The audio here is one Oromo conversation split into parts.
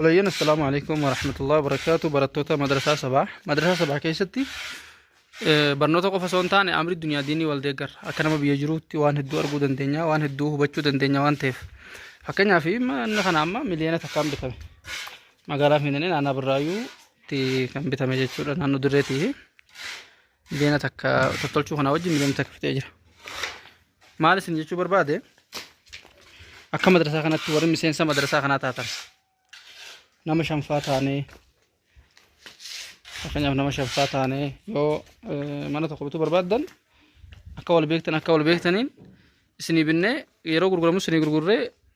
Walayyeen assalaamu alaikum warahmatullahi wabarakaatu barattoota madrasaa sabaa madrasaa sabaa keessatti eh, barnoota qofa osoo hin taane amri duniyaa diinii wal deeggarra akka nama biyya jiruutti waan hedduu arguu dandeenya waan hedduu hubachuu dandeenya waan ta'eef fakkeenyaaf manni kana amma miliyoona takkaan bitame magaalaa fiinanii naannaa birraayyuutti kan bitame jechuudha naannoo dirreetii Miliyoona takka tottolchuu kanaa wajjin miliyoona takka fixee jira. Maal isin jechuu barbaade akka madrasaa kanatti warri miseensa madrasaa kanaa taatan nama shanfaa taanee fakkeenyaaf nama shanfaa taanee yoo eh, mana tokko bituu barbaaddan akka wal beektan akka wal beektaniin isinii binnee yeroo gurguramu isinii gurgurree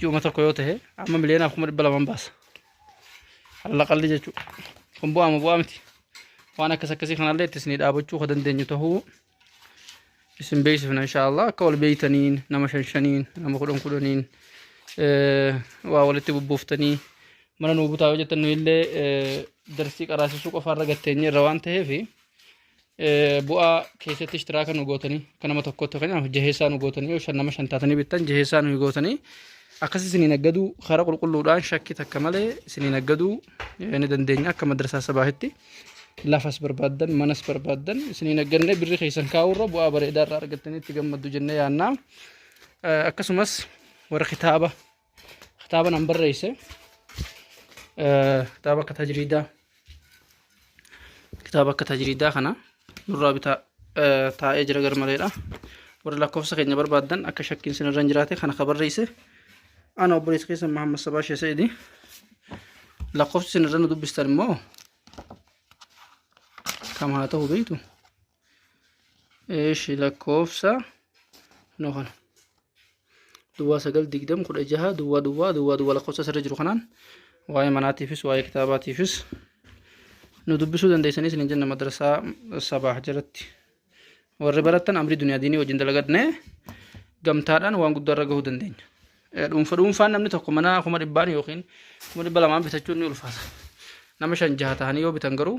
ji'uma tokko yoo ta'e amma miliyoonaa kuma dhibba lamaan baasa. Halla qalli jechuudha. Kun bu'aama bu'aa miti. Waan akkas akkasii kanallee itti isinii dhaabachuu kan dandeenyu ta'uu isin beeksifna inshaallah akka wal beeytaniin nama shan shaniin nama kudhan kudhaniin waa walitti bubbuuftanii mana nuu butaa yoo jettan nu illee darsii qaraasisuu qofaarra gatteenye irra waan ta'eefi. bu'aa keessatti ishtiraaka nu gootanii akka nama tokkotti fakkeenyaaf jaheessaa nu gootanii yoo shan nama shan taatanii bittan jaheessaa nu gootanii akkasii isiniin aggaduu karaa qulqulluudhaan shakkii takka malee isiniin aggaduu ni dandeenya akka madrasaa sabaahitti lafas barbaaddan manas barbaaddan isiniin aggannee birri keessan kaa'uurra bu'aa bareedaa irraa argattanii itti gammaddu jennee yaannaa akkasumas warra kitaaba kitaaba nan barreesse Eh, kitaaba akka tajriidaa kitaaba akka tajriidaa kana nurraa bitaa eh, taa'ee jira garmaleedha warri lakkoofsa keenya barbaaddan akka shakkiin sinirra hin jiraate kana ka barreesse ana obboleessa keessa Mahammad Sabaa Shee Sa'idi lakkoofsi sinirra nu dubbistan immoo kam haa ta'u beektu Eeshi lakkoofsa no kana duwwaa sagal digdam kudha jaha duwwaa duwwaa duwwaa duwwaa lakkoofsa asirra jiru kanaan waa'ee manaatiifis waa'ee kitaabaatiifis nu dubbisuu dandeessanii isin jenna madrasaa sabaah jalatti warri barattan amrii duniyaa diinii wajjin dalagadne gamtaadhaan waan guddaa irra gahuu dandeenya. Dhuunfa dhuunfaan namni tokko mana kuma dhibbaan yookiin kuma dhibba lamaan bitachuun ni ulfaata. Nama shan jaha ta'anii yoo bitan garuu